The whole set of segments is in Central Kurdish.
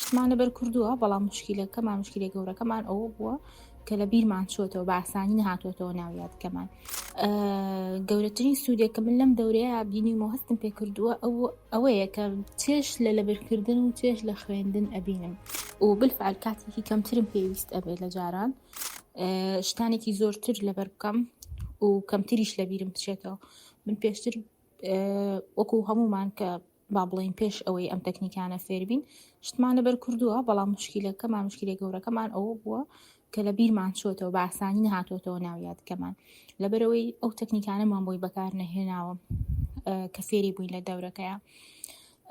شتمان لەبەر کردووە بەڵام مشکیلەکەمان مشکلی گەورەکەمان ئەوە بووە کە لە بیرمان چۆتەوە باسانی نهاتۆتەوە ناویادکەمان گەورەترین سوودێک کە من لەم دەورەیە بینیمەوە هەستم پێ کردووە ئەو ئەوەیە کە چێش لە لەبرکردن و چێش لە خوێندن ئەبینم و بلفعل کاتێکی کەمترم پێویست ئەبێت لە جاران شتانێکی زۆرتر لەبەر بکەم و کەمتریش لە بیرم بچێتەوە من پێشتر وەکو هەمومان کە با بڵین پێش ئەوەی ئەم تەکنیکانە فێربین شتمانە بەر کردووە بەڵام مشکلەکەمان مشکلە گەورەکەمان ئەوە بووە کە لە بیرمان چۆتەوە باسانی نهاتۆتەوە ناویادکەمان لەبەرەوەی ئەو تەکنیکانەمان بۆی بەکار نەهێناوە کە فێری بووین لە دەورەکەیە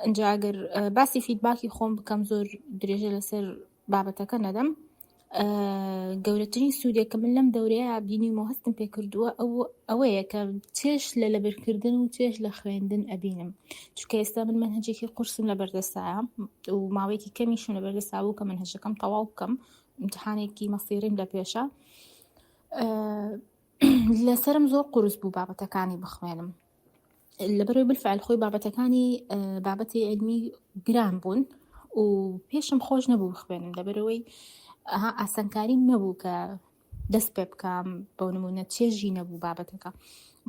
ئەجاگەر باسی فیدباکی خۆم بکەم زۆر درێژە لەسەر بابەتەکە نەدەم گەورەترین سوودێک کە من لەم دەورەیە بینیم و هەستم پێکردووە ئەو ئەوەیە کە چێش لە لەبرکردن و چێش لە خوێندن ئەبینم چکە ئێستا من من هەجێکی قورسم لە بەردەستایە و ماوەیەکی کەمیشم لە بەردەستا بوو کە من هەشەکەم تەواو بکەم امتحانێکی مەسیریم لە پێشە لەسرم زۆر قورس بوو بابەتەکانی بخوێنم لەبەرەوەی بالفعل خۆی بابەتەکانی بابەتی علمی گران بوون و پێشم خۆش نەبوو بخوێنم لەبەرەوەی ئەها ئاسانکاریم نەبوو کە دەست پێ بکەم بۆ نمونە چێژی نەبوو بابەتەکە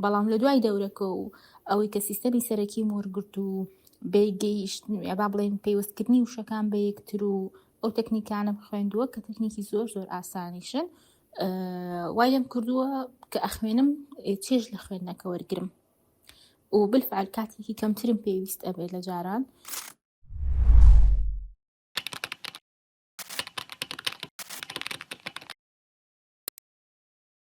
بەڵام لە دوای دەورەکە و ئەوەی کە سیستەمی سەرەکی وەرگرت و بێگەیشت با بڵێن پێوەستکردنی وشەکان بە یەکتر و ئەو تەکنیکانم خوێندووە کە تەکنیکی زۆر زۆر ئاسانیشن وای لێم کردووە کە ئەخوێنم چێژ لە خوێندنەکە وەرگرم و بالفعل کاتێکی کەمترم پێویست ئەبێت لە جاران